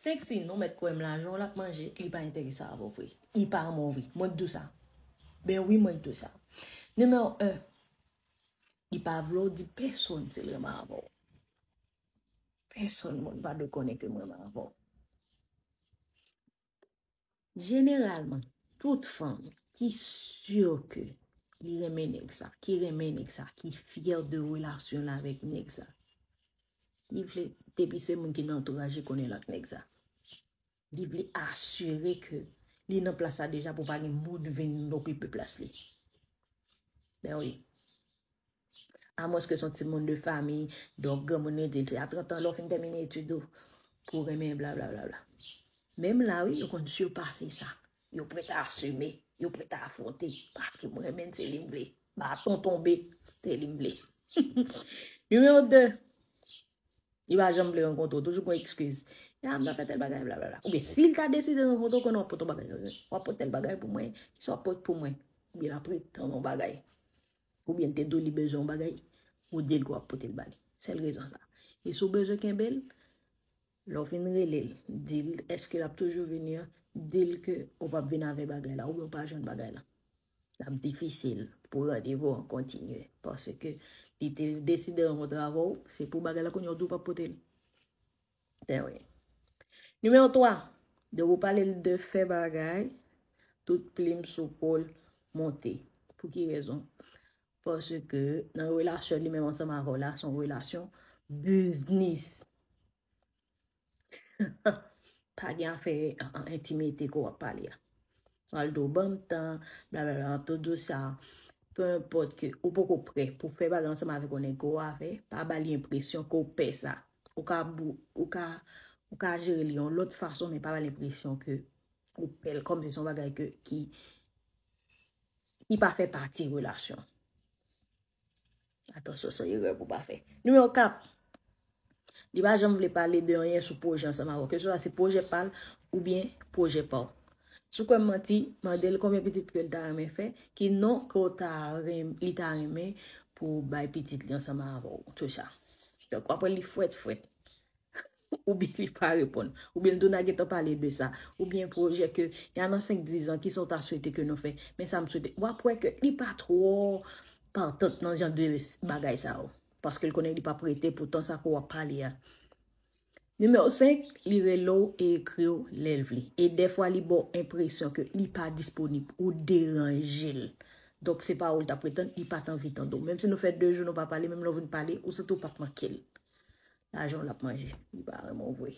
Senk si nou mèt kwèm lajan w lap manje li pa enteresan avè w vre. Li pa renmen w vre. Mwen k di w sa. Ben wi mwen k di w sa. Nimewo 1, li pa vle w di pèsonn si l renmen avè w. Pèsonn moun pa dwe konnen ke m renmen avè w. Jeneralman, tout fanm ki sur ke li renmen nèg sa, ki renmen nèg sa, ki fyè de relasyon l avèk nèg sa, li vle, depi se moun ki nan antouraj li konnen l ak nèg sa, li vle asire ke li nan plas la deja pou pa gen moun vin okipe plas li. Ben wi. A mwens ke son ti moun de famiy, donk gran moun li di a 30 an lè w fin tèmine etid ou pou renmen bla bla bla bla. Menm la wi yo konn sipase sa. Yo prèt a asime, yo prèt a afwonte paske m renmen l se li m vle. Baton tonbe, se li m vle. Nimewo 2, li pa janm vle rankontre w, toujou gon ekskiz. Ya m ta fè tèl bagay bla bla bla. Oubyen si l ta deside rankontre w konnen w ap pot yon bagay. W ap pot tèl bagay pou mwen, kisa w ap pot pou mwen? Oubyen l ap pretann yon bagay. Ou byen te do li bezwen yon bagay, ou dil ke wap potel bali. Sel rezon sa. E sou bezwen kenbel, lè ou fin relel, dil eske lap toujou vini an, dil ke ou pap vini avè bagay la, ou byen ou pa jwenn bagay la. Lap difisil pou randevou an kontinye. Paske li te deside rankontre avè ou, se pou bagay la kounye ou di ou pap potel. Ben wi. Nimewo 3, de wou pale l de fè bagay, tout plim sou po l monte. Pou ki rezon? Paske nan relasyon li menm ansanm avè w la, son relasyon biznis. Pa gen afè entimite ko w ap pale a. Sa l di w banm tan, bla bla bla, tout di w sa. Pe enpòt ke ou poko pre pou fè bagay ansanm avèk yon nèg ke w avè, pa ba li enpresyon ke w pè sa. Ou ka ou ka ou ka jere li yon lòt fason men pa ba l enpresyon ke ou pè l kòm se son bagay ke ki ki pa fè pati relasyon. Atansyon se erè pou pa fè. Nimewo 4, li pa janm vle pale de anyen sou pwojè ansanm avè w, ke swa se pwojè pa l oubyen pwojè pa w. Si w kwè m manti, mande l konbyen pitit ke l ta renmen fè, ki non ke w ta renm li ta renmen pou bay pitit li ansanm avè w. Tchoucha. Donk wap wè li fwèt fwèt. Ou byen li pa reponn. Ou byen tou na gentan pale de sa. Ou byen pwojè ke ya nan 5, 10 an ki sa ou ta swete ke nou fè. Men sa m swete. Wap wè ke li pa twò partant nan jan de bagay sa yo. Paske l konnen li pap rete pou tan sa ke wap pale a. Nimewo 5, Li rele w e ekri w lè l vle. E dèfwa li ba w enpresyon ke li pa disponib, ou deranje l. Donk se pa ou l t ap pretann, li pa t anvi tande w. Menm si nou fè 2 jou nou pa pale, menm lè w vin pale, ou santi w pa t manke l. Lajan w l ap manje. Li pa renmen w vre.